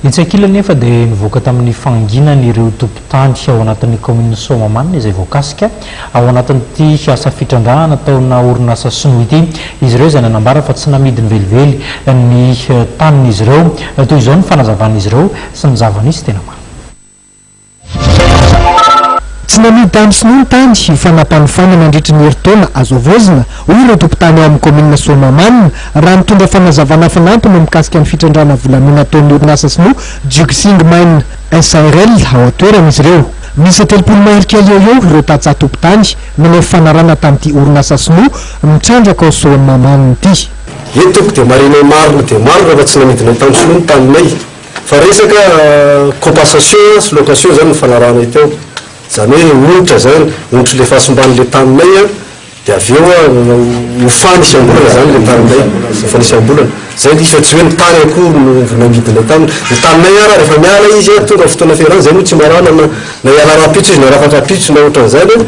Etsy ankilany anefa dia nivoaka tamin'ny fahanginany ireo tompon-tany ao anatin'ny kaominina Soamahamanina izay voakasika ao anatin'ity asa fitrandrahana ataona orinasa sinoa ity izy ireo izay nanambara fa tsy namidiny velively ny tanin'izy ireo. Toy izao ny fanazavan'izy ireo sy ny zava-nisy tena marina. Tsy nanidy tany sinoa ny tany ho fanampanofoana nandritry ny herintaona azo havaozina, hoy ireo tompon-tany ao amin'ny kaominina Soamahamanina, raha nitondra fanazavana fanampiny mikasika ny fitrandrahana volamena ataon'ny orinasa sinoa Juxing Mine SARL ao an-toerana izy ireo. Miisa telopolo marika eo ho eo ireo tantsaha tompon-tany nanao fifanarahana tamin'ity orinasa sinoa mitrandraka ao Soamahamanina ity. Eny tompoko dia marihina ho maro dia maro ireo efa tsy nanidinay tany sinoa ny taninay. Fa resaka compensation sy location izany no fanarahanay teo. Izany hoe onitra izany, onitry ilay fahasimban'ny ilay taninay an, dia avy eo ho fanisam-bolana izany ilay taninay, ho fanisam-bolana. Izay izy fa tsy hoe ny tany akory no nangidinay taminy. Ny taninay ara rehefa miala izy an, tonga ny fotoana fialany, izay no tsy marana na na hiala rahampitso izy na rafaka ampitso na ohatran'izany an.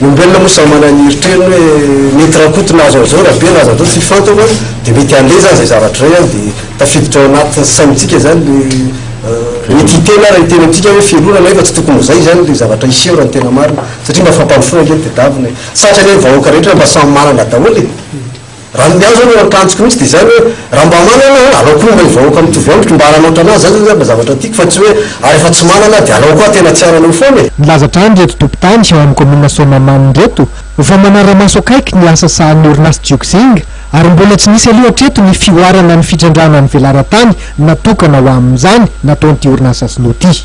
Ny olombelona moa samy manana ny eritreriny hoe mety rakoto na azo an'izao rabe na azo atao tsy fantako an, dia mety handeha izany izay zavatra izay an, dia tafiditra ao anatin'ny saintsika izany ilay mety hiteny ary hiteny amintsika hoe fialonana nefa tsy tokony ho izay izany ilay zavatra hiseho raha ny tena marina satria mba fampandrosoana ange ny tedavina e, sarotra anie ny vahoaka rehetra mba samy manana daholo e. Raha ny ahy izany akanjoko mihitsy dia izany hoe raha mba manana aho alao koa ilay vahoaka mitovy amiko mba hananatra an'ahy, izany zany zavatra tiako fa tsy hoe ary rehefa tsy manana aho dia alao koa tena tsy hanana eo foana e! Nilaza hatrany ireto tompon-tany ao amin'ny kaominina Soamahamanina ireto fa manara-maso akaiky ny asa sahanin'ny orinasa Jiuxing ary mbola tsy nisy aloha hatreto ny fihoarana ny fitrandrahana ny velaran-tany natokana ho amin'izany nataon'ity orinasa sinoa ity.